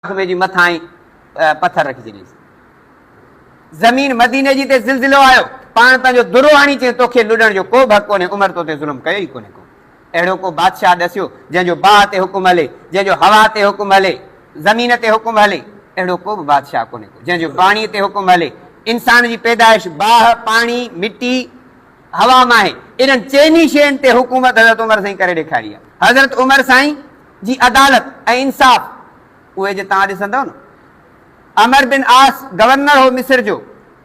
وقفي جي مٿانهين پٿر رکي ڇڏيس. زمين مديني جي تي زلزلو آيو. پاڻ پنهنجو درو آڻي چيس، توکي لڏڻ جو ڪو به حق ڪونهي، عمر تو تي ظلم ڪيو ئي ڪونهي ڪو. اهڙو ڪو بادشاهه ڏسيو، جنهن جو باهه تي حڪم هلي، جنهن جو هوا تي حڪم هلي، زمين تي حڪم هلي. اهڙو ڪو به بادشاهه ڪونهي ڪو، جنهن جو پاڻي تي حڪم هلي. انسان جي پيدائش باهه، پاڻي، مٽي، هوا مان آهي. انهن چئني شين تي حڪومت حضرت عمر سائين ڪري ڏيکاري آهي. حضرت عمر سائين. جي عدالت ۽ انصاف اهي جي توهان ڏسندؤ نه. عمر بن عاص گورنر هو مصر جو.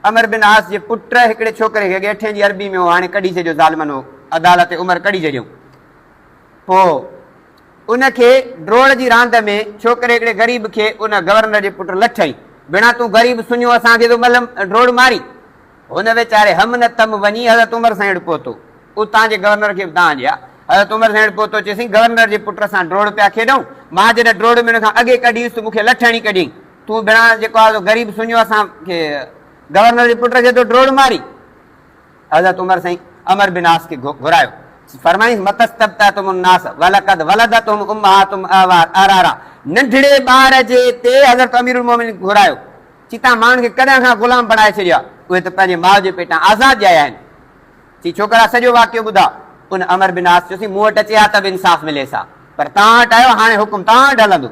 عمر بن عاص جي پٽ هڪڙي ڇوڪري کي ڳيٺين جي عربي ۾ هو هاڻي ڪڍي ڇڏيو ظالمن هو عدالت عمر ڪڍي ڇڏيو پوء ان کي ڊروڙ جي راند ۾ ڇوڪري هڪڙي غريب کي ان گورنر جي پٽ لٺئين بنا تون غريب سڃو اسان کي ٿو ملم ڊروڙ مارين هن ويچاري هم نتم وڃي حضرت عمر سائين وٽ پهتو. اتان جي گورنر کي به دانهن ڏي ها. حضرت عمر سائين وٽ پهتو چيس سائين گورنر جي پٽ سان ڊوڙ پيا کيڏئون. مان جڏهن ڊوڙ ۾ ان کان اڳي ڪڍي ويس ته مون کي لٺ هڻي ڪڍيائين. تون ڀيڻان جيڪو آهي سو غريب سڃو اسان کي گورنر جي پٽ کي تو ڊوڙ ماري. حضرت عمر سائين عمر بن عاص کي گهرايو. فرمائيس متستبتعتم الناس ولقد ولدتهم امهاتهم اعوار اعرارا ننڍڙي ٻار جي تي حضرت امير المومنين کي گهرايو. چي توهان ماڻهن کي ڪڏهن کان غلام بڻائي ڇڏيو آهي، اهي ته پنهنجي ماء جي پيٽان آزاد ڄايا آهن. چي ڇوڪرا سڄو واقعو ٻڌاء. ان عمر بن عاص چيوسين مون وٽ اچي ها ته به انصاف مليس ها، پر توهان وٽ آيو هاڻي حڪم توهان وٽ هلندو.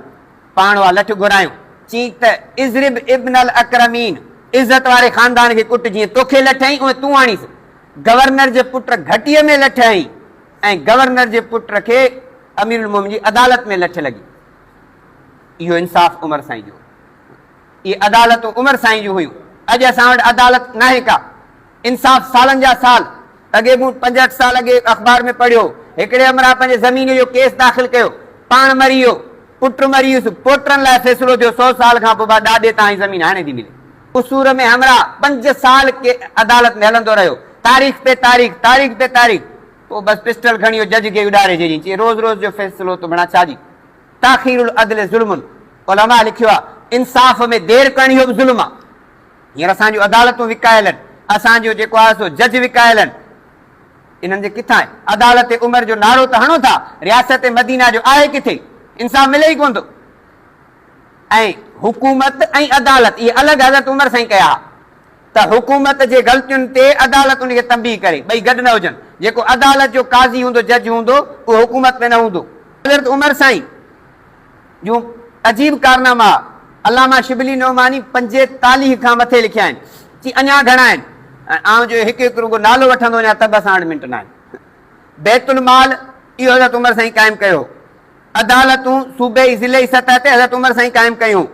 پاڻ اها لٺ گهرايون، چيائين ته اضرب ابن الاڪرمين، عزت واري خاندان کي ڪٽ، جيئن توکي لٺ هنئي اهي تون هڻيس. گورنر جي پٽ گهٽيء ۾ لٺ هنئي ۽ گورنر جي پٽ کي اميرالمومنين جي عدالت ۾ لٺ لڳي. اهو انصاف عمر سائين جو هو. اهي عدالتون عمر سائين جون هيون. اڄ اسان وٽ عدالت ناهي ڪا. انصاف سالن جا سال اڳي مون پنجهٺ سال اڳي اخبار ۾ پڙهيو هو. هڪڙي همراهه پنهنجي زمين جو ڪيس داخل ڪيو. پاڻ مري ويو. پٽ مري ويس. پوٽرن لاء فيصلو ٿيو سو سال کان پوء ڏاڏي تان هي زمين هاڻي ٿي ملي. قصور ۾ همراهه پنج سال عدالت ۾ هلندو رهيو. تاريخ پي تاريخ. تاريخ پي تاريخ. پوء بس پسٽل کڻي اهو جج کي اڏاري ڇڏيائين. چيائين روز روز جو فيصلو ته بڻا ڇا جي. تاخير العدل ظلم، علماء لکيو آهي، انصاف ۾ دير ڪرڻ اهو به ظلم آهي. هينئر اسان جون عدالتون وڪايل آهن، اسان جو جيڪو آهي سو جج وڪايل آهن. انهن جي ڪٿان آهي؟ عدالت عمر جو نعرو ته هڻو ٿا، رياست مدينه جو آهي ڪٿي؟ انصاف ملي ئي ڪونه ٿو. ۽ حڪومت ۽ عدالت اهي الڳ حضرت عمر سان ئي ڪيا ها. ته حڪومت جي غلطين تي عدالت ان کي تنبيهه ڪري، ٻئي گڏ نه هجن، جيڪو عدالت جو قاضي هوندو، جج هوندو، اهو حڪومت ۾ نه هوندو. حضرت عمر سائين جون عجيب ڪارناما علامه شبلي نعماني پنجيتاليهه کان مٿي لکيا آهن، چي اڃا گهڻا آهن ۽ آئون جو هڪ هڪ رڳو نالو وٺندو وڃان ته به اسان وٽ منٽ ناهن. بيت المال اهو حضرت عمر سائين قائم ڪيو هو، عدالتون صوبي، ضلعي سطح تي حضرت عمر سائين قائم ڪيون.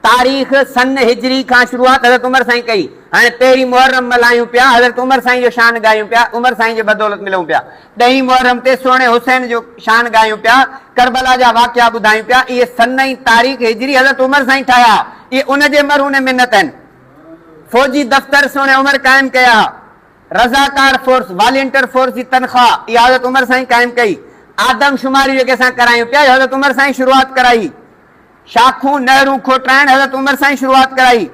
تاريخ سن هجري کان شروعات حضرت عمر سائين ڪئي. هاڻي پهرين محرم ملهايون پيا، حضرت عمر سائين جو شان ڳايون پيا، عمر سائين جي بدولت ملون پيا. ڏهين محرم تي سهڻي حسين جو شان ڳايون پيا، ڪربلا جا واقعا ٻڌايون پيا. اهي سن ۽ تاريخ هجري حضرت عمر سائين ٺاهيا، اهي ان جي مرهون ۽ منت آهن. فوجي دفتر سهڻي عمر قائم ڪيا. رضاڪار فورس، والينٽر فورس، جي تنخواهه اها حضرت عمر سائين قائم ڪئي. آدم شماري جيڪي اسان ڪرايون پيا اهي حضرت عمر سائين شروعات ڪرائي. شاخون، نهرون، کوٽرائڻ حضرت عمر سائين شروعات ڪرائي.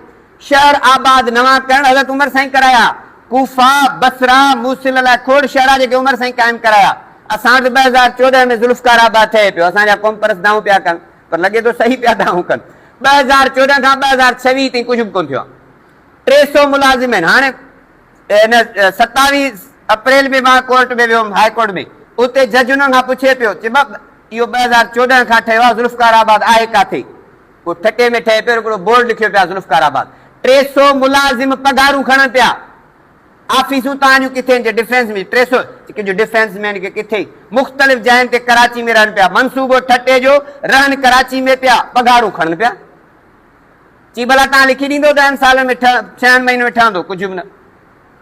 شهر آباد نوان ڪرڻ حضرت عمر سائين ڪرايا. ڪوفه، بصره، موصل لاء کوڙ شهرا جيڪي عمر سائين قائم ڪرايا. اسان وٽ ٻه هزار چوڏهن ۾ ذوالفقار آباد ٺهي پيو. اسان جا قومپرست دانهون پيا ڪن پر لڳي ٿو صحيح پيا دانهون ڪن. ٻه هزار چوڏهن کان ٻه هزار ڇويهه تائين ڪجهه به ڪونه ٿيو آهي. ٽي سؤ ملازم آهن. هاڻي ستاويهه اپريل ۾ مان ڪورٽ ۾ ويو هيم، هاء ڪورٽ ۾. اتي جج انهن کان پڇي پيو، چي بئب، اهو ٻه هزار چوڏهن کان ٺهيو آهي، ذوالفقار آباد آهي ڪاٿي؟ هو ٺٽي ۾ ٺهي پيو، هڪڙو بورڊ لکيو پيا ذوالفقار آباد. ٽي سؤ ملازم پگهارون کڻن پيا. آفيسون توهان جون ڪٿي آهن؟ چي ڊفينس ۾. ٽي سؤ چڪن جون ڊفينس مين کي ڪٿي؟ مختلف جاين تي ڪراچي ۾ رهن پيا. منصوبو ٺٽي جو، رهن ڪراچي ۾ پيا، پگهارون کڻن پيا. چي ڀلا تان لکي ڏيندو ڏهن سالن ۾ ڇهن مهينن ۾ ٺهندو ڪجهه به نه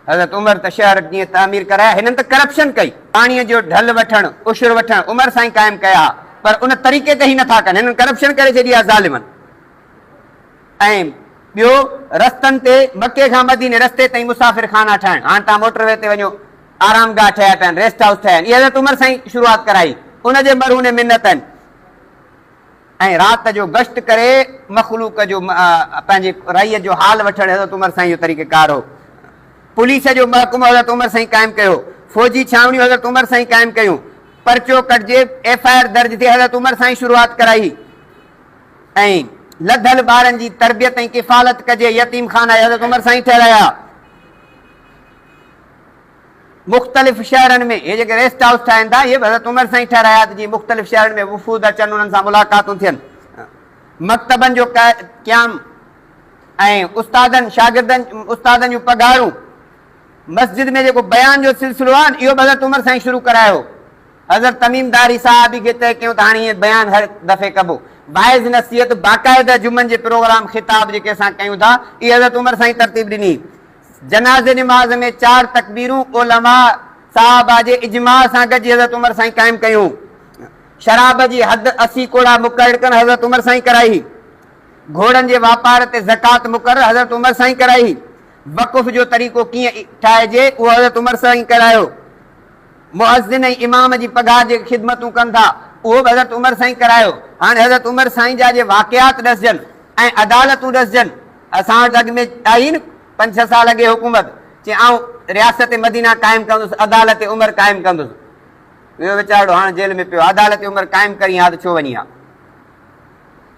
حضرت عمر ته شهر جيئن تعمير ڪرايا هنن ته ڪرپشن ڪئي پاڻي جو ڍل وٺڻ عشر وٺڻ عمر سائين قائم ڪيا ها پر ان طريقي تي هي نٿا ڪن هنن ڪرپشن ڪري ڇڏي آهي ظالمن ۽ ٻيو رستن تي مڪي کان مديني رستي تائين مسافر خانا ٺاهڻ هاڻ تان موٽر وي تي وڃو آرام گاهه ٺهيا پيا آهن ريسٽ هائوس ٺهيا آهن اهي حضرت عمر سائين شروعات ڪرائي ان جي مرهون منتن ۽ رات جو گشت ڪري مخلوق جو پنهنجي رعيت جو حال وٺڻ حضرت عمر سائين جو طريقه ڪار هو. پوليس جو محڪمو حضرت عمر سائين قائم ڪيو، فوجي ڇانوڻيون حضرت عمر سائين قائم ڪيون، پرچو ڪٽجي ايف آء آر درج ٿئي حضرت عمر سائين شروعات ڪرائي ۽ لڌل ٻارن جي تربيت ۽ ڪفالت ڪجي يتيم خانا حضرت عمر سائين ٺهرايا. مختلف شهرن ۾ اهي جيڪي ريسٽ هائوس ٺاهين ٿا، اهي به حضرت عمر سائين ٺهرايا ته جيئن مختلف شهرن ۾ وفود اچن، انهن سان ملاقاتون ٿين. مڪتبن جو قيام ۽ استادن، شاگردن، استادن جون پگهارون، مسجد ۾ جيڪو بيان جو سلسلو آهي، اهو به حضرت عمر سائين شروع ڪرايو هو. حضرت تميم داري صحابي کي طئي ڪيو ته هاڻي هيئن بيان هر دفعي ڪبو. واعظ نصيحت، باقاعده جمعن جي پروگرام، خطاب جيڪي اسان ڪيون ٿا، اهي حضرت عمر سائين ترتيب ڏني. جنازي نماز ۾ چار تڪبيرون علماء صحابه جي اجماع سان گڏجي حضرت عمر سائين قائم ڪيون. شراب جي حد اسي ڪوڙا مقررڪرڻ حضرت عمر سائين ڪرائي. گهوڙن جي واپار تي زڪوات مقرر حضرت عمر سائين ڪرائي. وقف جو طريقو ڪيئن ٺاهجي اهو حضرت عمر سائين ڪرايو. مؤذن ۽ امام جي پگهار جي خدمتون ڪن ٿا اهو به حضرت عمر سائين ڪرايو. هاڻي حضرت عمر سائين جا جي واقعات ڏسجن ۽ عدالتون ڏسجن. اسان وٽ اڳ ۾ آهي نه پنج ڇهه سال اڳي حڪومت چي آئون رياست مدينه قائم ڪندس عدالت عمر قائم ڪندس ويو ويچارڙو هاڻ جيل ۾ پيو عدالت عمر قائم ڪرين ها ته ڇو وڃي ها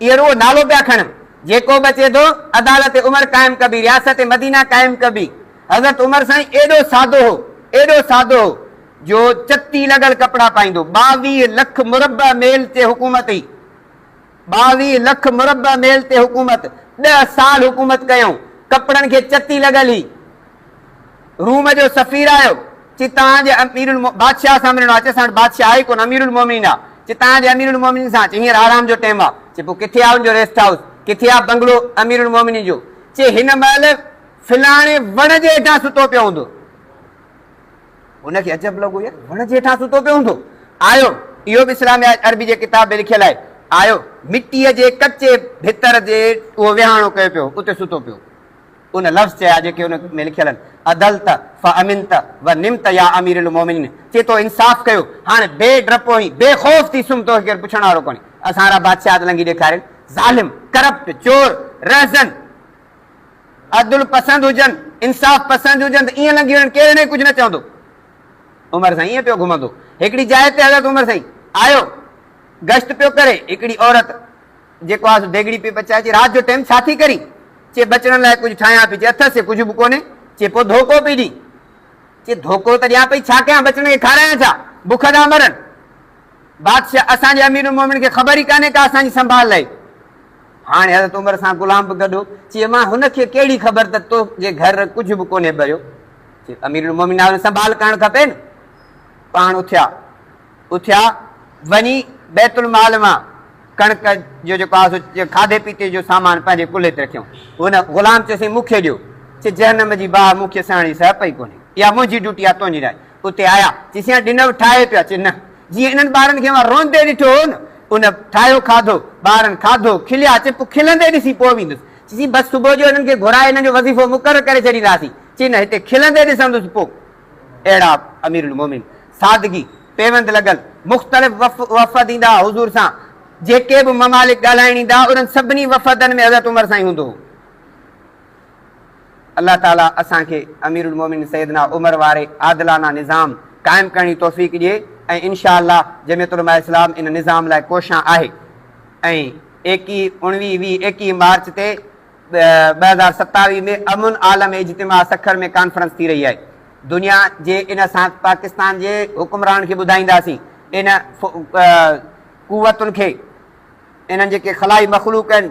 اهي روح نالو پيا کڻن جيڪو به اچي ٿو عدالت عمر قائم ڪبي رياست مدينه قائم ڪبي حضرت عمر سائين ايڏو سادو هو ايڏو سادو هو جو چتي لڳل ڪپڙا پائيندو ٻاويهه لک مربع ميل تي حڪومت هئي ٻاويهه لک مربع ميل تي حڪومت ڏهه سال حڪومت ڪيائون ڪپڙن کي چتي لڳل هي روم جو سفير آيو چي تان جي امیرالمؤ بادشاهه سان ملڻو آ چي اسان وٽ بادشاهه آهي ڪونه اميرالمؤمنين آ چي تان جي اميرالمؤمنين سان چي هينئر آرام جو ٽيم آ چي پو ڪٿي آ ان جو ريسٽ هائوس ڪٿي آ بنگلو اميرالمؤمنين جو چي هن مهل فلاڻي وڻ جي هيٺان ستو پيو هوندو. هن کي عجب لڳو يار وڻ جي هيٺان ستو پيو هوندو. آيو، اهو به اسلامي آهي، عربي جي ڪتاب ۾ لکيل آهي، آيو، مٽيء جي ڪچي ڀتر جي اهو وهاڻو ڪيو پيو هو، اتي ستو پيو هو. ان لفظ چيا جيڪي ان ۾ لکيل آهن، عدلت فامنت ونمت يا امير المومنين، چي تو انصاف ڪيو، هاڻ بي ڊپ ۽ بي خوف ٿي سمهه، توکي ڪير پڇڻ وارو ڪونهي. اسان را بادشاهت لنگهي ڏيکارين، ظالم، ڪرپٽ، چور، رهزن. عدل پسند هجن، انصاف پسند هجن ته ائين لنگهي وڃن، ڪير انهي کي ڪجهه نه چوندو. عمر سائين ائين پيو گهمندو. هڪڙي جاء تي حضرت عمر سائين آيو، گشت پيو ڪري. هڪڙي عورت جيڪو آهي سو ديڳڙي پئي پچائي، چي رات جو ٽيم ڇا ٿي ڪرين؟ چي ٻچڙن لاء ڪجهه ٺاهيان پئي. چي اٿس چي ڪجهه به ڪونهي. چي پوء ڌوڪو پئي ڏين. چي ڌوڪو ته ڏيان پئي، ڇا ڪيان ٻچڙن کي کارايان ڇا؟ بک تان مرن. بادشاھ، اسان جي امير المؤمنين کي خبر ئي ڪانهي ڪا اسان جي سنڀال لئي. هاڻي حضرت عمر سان غلام به گڏ هو. چي، امان هن کي ڪهڙي خبر ته تو جي گهر ڪجهه به ڪونهي ٻريو. چي، امير المؤمنين آهيو سنڀال ڪرڻ کپي نه. پاڻ اٿيا. اٿيا وڃي بيت المال مان ڪڻڪ جو جيڪو آهي سو کاڌي پيتي جو سامان پنهنجي ڪلهي تي رکيائون. هن غلام چيسين مون کي ڏيو. چي، جهنم جي باھ مون کي سهڻ جي سهپ ئي ڪونهي. اها منهنجي ڊيوٽي آهي تنهنجي ناهي. اتي آيا، چيسين ها ڏنو، ٺاهي پيا، چي نه، جيئن انهن ٻارن کي اوهان روئندي ڏٺو هو نه، ان ٺاهيو کاڌو، ٻارن کاڌو، کليا، چي پوء کلندي ڏسي پوء ويندس، چيسين بس صبح جو انهن کي گهرائي انهن جو وظيفو مقرر ڪري ڇڏينداسين، چي نه هتي کلندي ڏسندس پوء. اهڙا اميرالمومنين، سادگي، پيوند لڳل، مختلف وفد ايندا ها حضور سان، جيڪي به ممالڪ ڳالهائڻ ايندا ها، انهن سڀني وفدن ۾ حضرت عمر سائين هوندو هو. الله تعاليٰ اسان کي امير المومنين سيدنا عمر واري عادلانه نظام قائم ڪرڻ جي توفيق ڏئي ۽ ان شاء الله جمعيت علماء اسلام ان نظام لاء ڪوشان آهي ۽ ايڪي اڻويهه ويهه ايڪيهه مارچ تي ٻه هزار ستاويهه ۾ امن عالم اجتماع سکر ۾ ڪانفرنس ٿي رهي آهي دنيا جي ان اسان پاڪستان جي حڪمرانن کي ٻڌائينداسين ان قوتن کي انهن جيڪي خلائي مخلوق آهن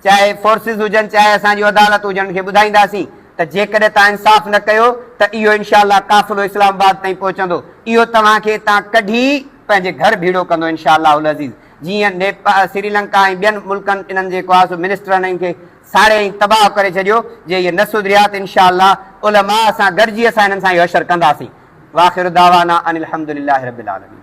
چاهي فورسز هجن چاهي اسان جون عدالتون هجن انهن کي ٻڌائينداسين ته جيڪڏهن توهان انصاف نه ڪيو ته اهو انشاء الله قافلو اسلام آباد تائين پهچندو اهو توهان کي اتان ڪڍي پنهنجي گهر ڀيڙو ڪندو انشاء الله العزيز جيئن نيپا سري لنڪا ۽ ٻين ملڪن انهن جيڪو آهي سو منسٽرن انهن کي ساڙي ۽ تباهه ڪري ڇڏيو جي اهي نه سڌريا ته انشاء الله علماء سان گڏجي اسان انهن سان اهو حشر ڪنداسين واخر دعوانا ان الحمدلله رب العالمين.